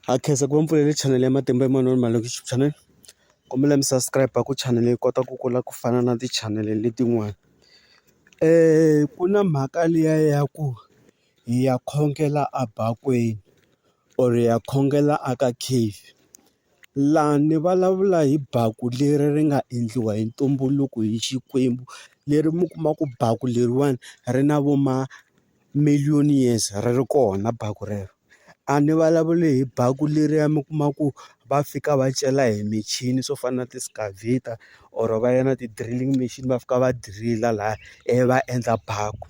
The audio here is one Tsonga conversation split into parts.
Ha khensa ku va mpfulele channel ya Matimba Emmanuel Malokixi channel kombela mi subscribe ku channel yi kota ku kula ku fana na ti-channel letin'wana ku na mhaka liya ya ku hi ya khongela a bakweni or hi ya khongela a ka cave laha ni vulavula hi baku leri ri nga endliwa hi ntumbuluko hi Xikwembu leri mi kuma ku baku leriwani ri na vo ma. million years ri ri kona baku rero a ni vulavuli hi baku leriya mi kuma ku va fika va cela hi michini swo fana na ti-scavator or va ya na ti-drilling machine va fika va dirila laya ivi va endla baku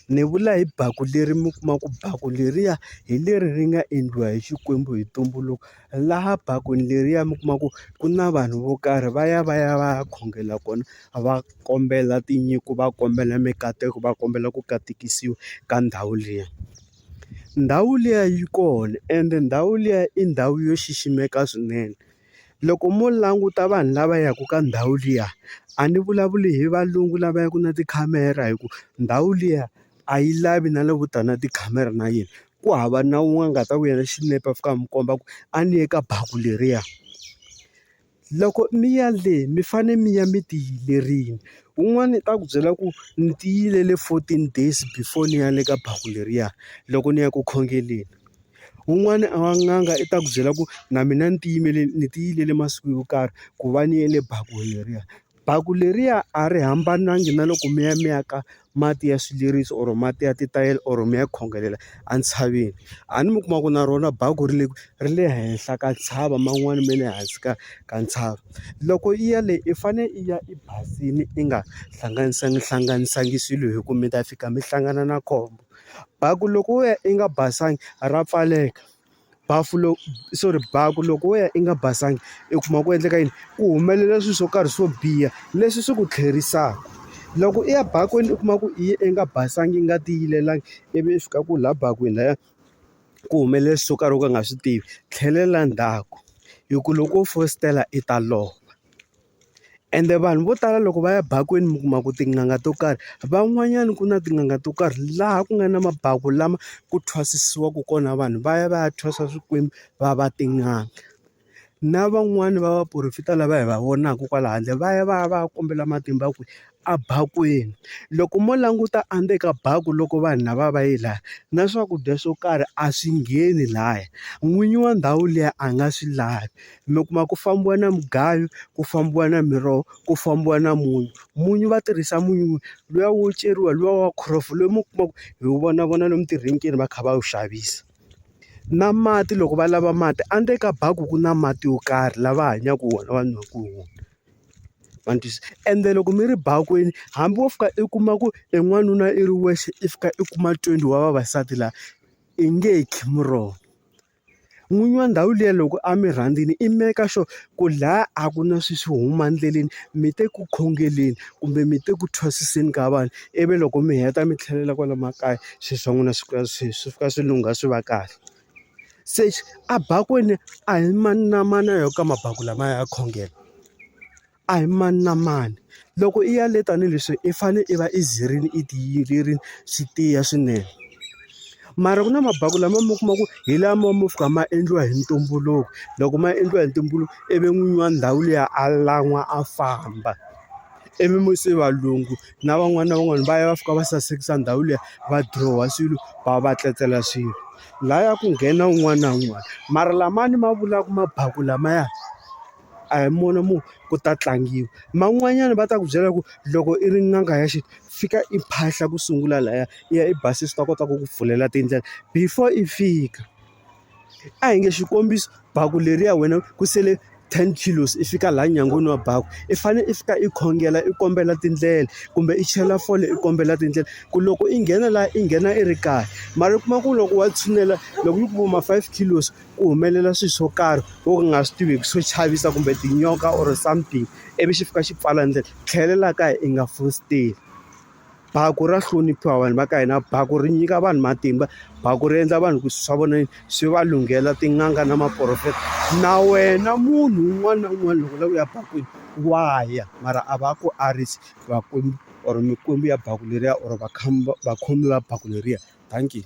ni vula hi baku leri mi kuma ku baku leriya hi leri ri nga endliwa hi Xikwembu hi ntumbuluko. laha bakweni leriya mi kuma ku ku na vanhu vo karhi va ya va ya va ya khongela kona va kombela tinyiko va kombela mikateko va kombela ku katekisiwa ka ndhawu liya ndhawu liya yi kona ende ndhawu liya i ndhawu yo xiximeka swinene loko mo languta vanhu lava yaka ka ndhawu liya a ni vulavuli hi valungu lava yaka na tikhamera hi ku ndhawu liya. a yi lavi na loko u ta na tikhamera na yena. Ku hava na un'we a nga ta ku endla xinepe a fika a mi komba ku a ni ye ka baku leriya. Loko mi ya le mi fanele mi ya mi ti yimerile. Un'wana u ta ku byela ku ni ti yimele fourteen days before ni ya le ka baku leriya, loko ni ya ku khongeleni. Un'wana a n'anga i ta ku byela ku na mina ni ti yimele ni ti yimele masiku yo karhi ku va ni ya le bakweni leriya. Baku leriya a ri hambanangi na loko mi ya mi ya ka mati ya swileriso or mati ya titayele or mi ya khongelela entshaveni a ni mi kuma ku na rona baku ri le ri le henhla ka ntshava man'wani ma le hansi ka ka ntshava loko i ya le i fane i ya i basini i nga hlanganisangi hlanganisangi swilo hi ku mi ta fika mi hlangana na khombo baku loko wo ya i nga basanga ra pfaleka. bafu lowu sorry baku loko wo ya i nga basanga i kuma ku endleka yini ku humelela swilo swo karhi swo biha leswi swi ku tlherisaka loko i ya bakweni u kuma ku i ye i nga basanga i nga tiyilelangi ivi i fika ku laha bakweni lahaya ku humelela swilo swo karhi u ka u nga swi tivi tlhelela ndzhaku hi ku loko wo fositela i ta lova. Ende vanhu vo tala loko va ya bakweni mi kuma ku tin'anga to karhi van'wanyana ku na tin'anga to karhi laha ku nga na mabaku lama ku thwasisiwaku kona vanhu va ya va ya thwasa swikwembu va va tin'anga na van'wani va vaporofeta lava hi va vonaka kwala handle va ya va ya va ya kombela matimba ku. a bakweni. Loko mo languta endzeni ka baku loko vanhu lava va yi laya na swakudya swo karhi a swi ngheni laya, n'winyi wa ndhawu liya a nga swi lavi. Mi kuma ku fambiwa na mugayo, ku fambiwa na miroho, ku fambiwa na munyu. Munyu va tirhisa munyu luya wo ceriwa luya wa khoronje lowu mi kumaka hi wu vona vona lomu tirhenkini va kha va wu xavisa. Na mati loko va lava mati endzeni ka baku ku na mati yo karhi lava hanyaka wona va nwaka wona. ma ni twisisa ende loko mi ri bakweni hambi wo fika i kuma ku i n'wanuna i ri wexe i fika i kuma twenty wa vavasati laha i nge khi muroho n'winyi wa ndhawu liya loko a mi rhandzile i make sure ku laha a ku na swilo swo huma endleleni mi te ku khongeleni kumbe mi te ku thwasiseni ka vanhu ivi loko mi heta mi tlhelela kwala makaya swilo swa n'wina swi fika swi swi fika swi lungha swi va kahle. Se a bakweni a hi mani na mani a ya ka mabaku lamaya ya khongelo. A hi mani na mani. Loko i ya le tanihileswi i fanele i va i zirile i tiyerile swi tiya swinene. Mara ku na mabaku lama mi kuma ku hi lama mo fika ma endliwa hi ntumbuluko, loko ma endliwa hi ntumbuluko ivi n'winyi wa ndhawu liya a lan'wa a famba, ivi mi se valungu. na van'wana na van'wana va ya va fika va sasekisa ndhawu liya va dirowa swilo va va tletlela swilo laya ku nghena un'wana na un'wana mara lamani ma vulaka ma baku lamaya a hi mona mo ku ta tlangiwa man'wanyana va ta ku byela ku loko i ri n'anga ya xintu fika i phahla ku sungula laya i ya i basisa swi ta kota ku ku pfulela tindlela before i fika. a hi nge xikombiso baku leriya wena ku sele ten kilos i fika laha nyangweni wa baku i fanele i fika i khongela i kombela tindlela kumbe i chela fole i kombela tindlela ku loko i nghena laha i nghena i ri kahle mara u kuma ku loko wa tshinela loko yi ku ma five kilos ku humelela swilo swo karhi wo ka u nga swi tiveki swo chavisa kumbe tinyoka or something ivi xi fika xi pfala ndlela tlhelela kaya i nga fositeli. Baku ra hloniphiwa vanhu va ka hina baku ri nyika vanhu matimba baku ri endla vanhu ku swilo swa vona swi va lunghela tin'anga na maporofeta na wena munhu un'wana na un'wana loko u lava ku ya bakweni wa ya mara a va ku arisi vakwembu or mikwembu ya baku leriya or vakhomi va baku leriya dankie.